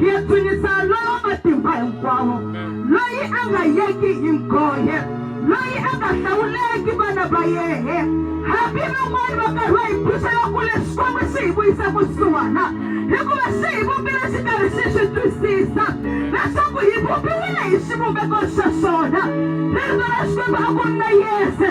hi dzunisa lowo matimba hinkwawo loyi a nga yeki hi nghohe loyi a nga hlawuleki vana va yehe hambi van'wani va karhiwa hi phuxela kule xikwembu xi hi vuyisa kusuhana hikuva xi hi vumbile xi karhi xi swi twisisa leswaku hi vumbiwile hi xivumbeko xa xona ririto ra xikwembu a ku ri na yese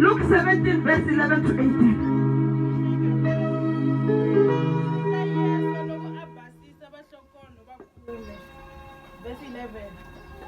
Luke 17 verse 11 to 18.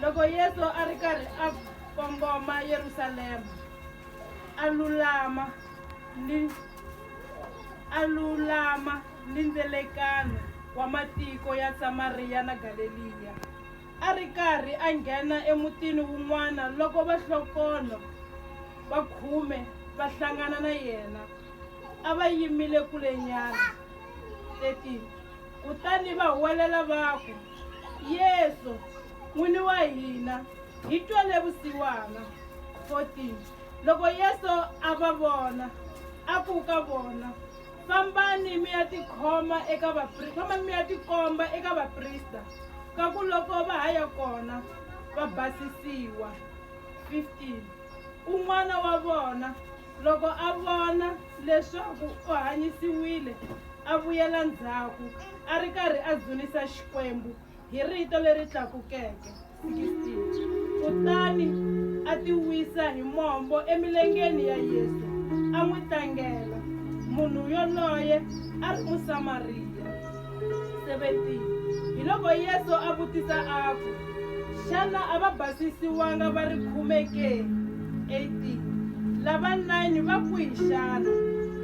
loko yesu a ri karhi a kongoma yerusalema a lulama ni a lulama ni ndzelekano wa matiko ya samariya na galeliya a ri karhi a nghena emutini wun'wana loko vahlokonho va khume va hlangana na yena. A va yimile kulenyana. 13 Kutani va huwelela va ku, Yesu, N'wini wa hina, hi twele vusiwana. 14 Loko Yesu a va vona, a ku ka vona, Fambani mi ya tikhoma eka vaprista, fambani mi ya tikomba eka vaprista, ka ku loko va ha ya kona va basisiwa. 15 Un'wana wa vona loko a vona leswaku u hanyisiwile a vuyela ndzhaku a ri karhi a dzunisa Xikwembu hi rito leri tlakukeke. Kutani a ti wisa hi mombo emilengeni ya Yesu, a n'wi tlangela. Munhu yoloye a ri Musamariya. 17 Hiloko Yesu a vutisa a ku, Xana a va basisiwanga va ri khume ke? 18 Lava nine va kwihi xana?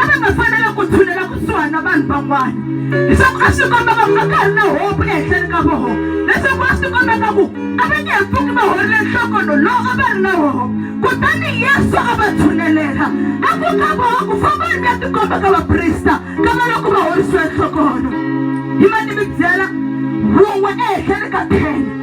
a va nga fanele ku tshulela kusuhani na vanhu van'wana leswaku a swi komba va a ka ri na hopu ehenhleni ka voho leswaku a swi komba ka ku a va nge he pfuki va horile nhlokono lowu a va ri na woho kutani yesu a va tshunelela a ku ka voho ku famba ri ya tikomba ka vaprista ka va loko va horisiwe nhlokono hi mani mi byela wun'we ehenhleni ka ten